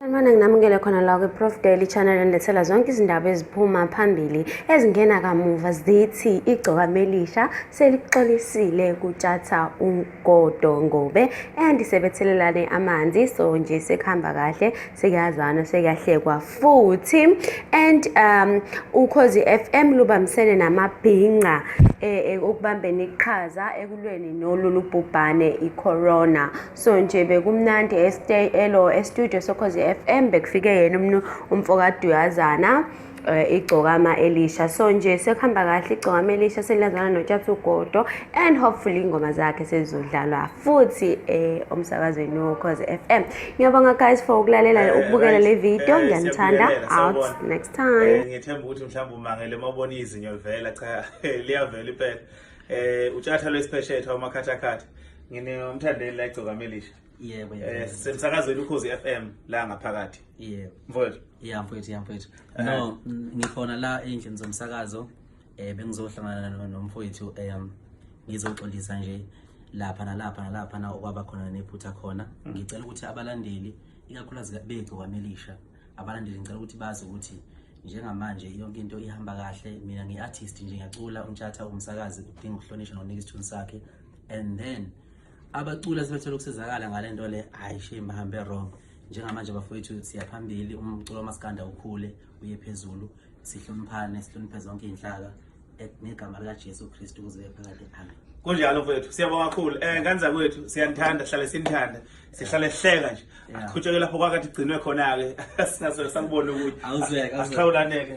Sanibona nginamukele khona la kwi-Prof Daily Channel endethela zonke izindaba eziphuma phambili ezingena kamuva zithi igcokama elisha selixolisile kutshatha ugodo ngobe and sebethelelane amanzi so nje sekuhamba kahle sekuyazana sekuyahlekwa futhi and um ukhozi FM lubambisene namabhinca e, e, ukubambeni iqhaza ekulweni nolulu bhubhane i-corona so nje bekumnandi estay elo estudio sokhozi FM bekufike yena umnu umfokaduyazana eh, igcokama elisha so nje sekuhamba kahle igcokama elisha selazana notshatsugodo and hopefully ingoma zakhe sezizodlalwa futhi eh, omsakazweni wokhozi FM ngiyabonga guys for ukulalela eh, ukubukela le video ngiyanithanda out next time ngithemba ukuthi mhlawumbe umangele uma ubona izinyo livela cha liyavela impela eh utshatha lwesipheshetha umakhathakhatha ngine umthandeli la igcoka melisha yebo eh semsakazweni ukhozi FM la ngaphakathi yebo mfowethu yeah mfowethu yeah mfowethu eh. no ngikhona la endlini zomsakazo eh bengizohlangana nomfowethu um ngizoxolisa nje lapha nalapha nalapha na okwaba khona nephutha khona mm. ngicela ukuthi abalandeli ikakhulukazi bethu kwamelisha abalandeli ngicela ukuthi bazi ukuthi njengamanje yonke into ihamba kahle mina ngi-artist nje ngiyacula untshatha umsakazi udinga ukuhlonishwa nonika isithunzi sakhe and then abaculi asebethole ukusizakala ngale nto le hhayi shame bahambe wrong njengamanje bafowethu siyaphambili umculo wamaskanda ukhule uye phezulu sihloniphane sihloniphe zonke iy'nhlaka ngegama likajesu kristu kuze bephakade amen kunjalo mfowethu siyabonga kakhulu um eh, nganza kwethu siyanithanda sihlale sinithanda sihlale sihleka nje akhutsheke lapho kwakathi gcinwe khona-ke singasoke sakubona ukuthi asihlawulaneke